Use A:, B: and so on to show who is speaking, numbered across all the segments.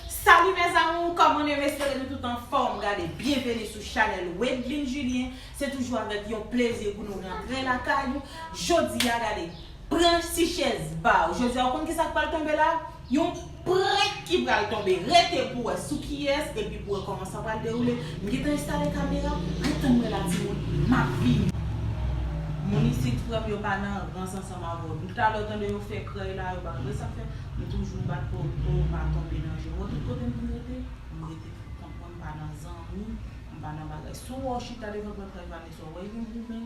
A: Salut mes amours koman nou espere nou tout anfom gade byenveni sou chanel Wedline Julien se toujou avèk yon plezi pou nou rantre lakay ou jodia gade pran ti chèz baw jodia ou konn kisa k pral tonbe la yon Prank ki pral tonbe rete pou wè sou kiyès epi pou wè kòman sa pral dewoule m gentan enstale kamera ret tann mwen la timoun map vini. Moun isit frèm yo pa nan rans ansanm avèw nou talè ou tande yo fè krèy la yo pa konn sa fè nou toujou bat pou pou nou pa tonbe nan je mwen tout kotem vin rete m rete poukont mwen m pa nan zanmi m pa nan bagay sou wè w chita devan prank la yo pa gen sa w wè yo goumen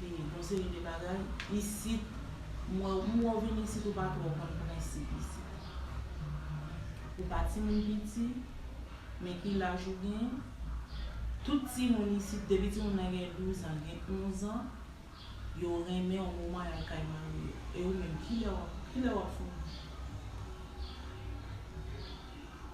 A: Gen yon seri de bagay isit m wè w m wè w vin isit ou pa twò konn prensip isit. Ou pa timoun piti men ki laj ou gen? Tout timoun isit depi timoun nan gen 12 an gen 11 an yo renmen w moman y al kay mari yo. E ou menm kilè w ap fini?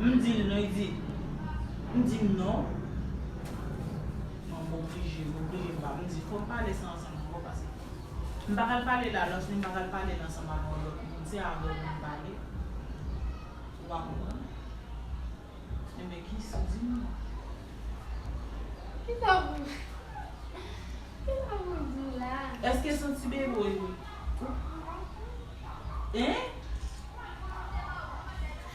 A: M di l non, li di M di m non, m an m oblije, m oblije m pa m di fò m pale sa ansanm ankò pase m pa ka l pale l alòs ni m pa ka l pale l ansanm avè yon lòt moun se avè w pou m pale ou pa konprann Enben ki sa di m non Ki sa pou Ki sa pou m di w la a Èske son ti bebe w ye Hein?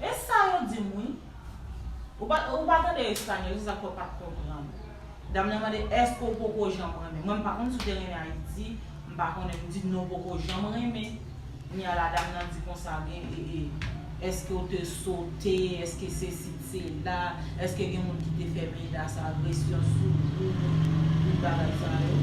A: E sa yo dim wi. Ou pa ou pa tande espagnol se sak fè ou pat konprann. Dam nan mande eske ou poko janm renmen. Mwen m pa konn si w te renmen ayiti, m pa konnen. M di non poko janm renmen. Kounye a la dam nan di konsa gen e e eske ou te sote, eske sesi t sela, eske gen moun ki te fè menas, agresyon sou ou, tout bagay sa yo.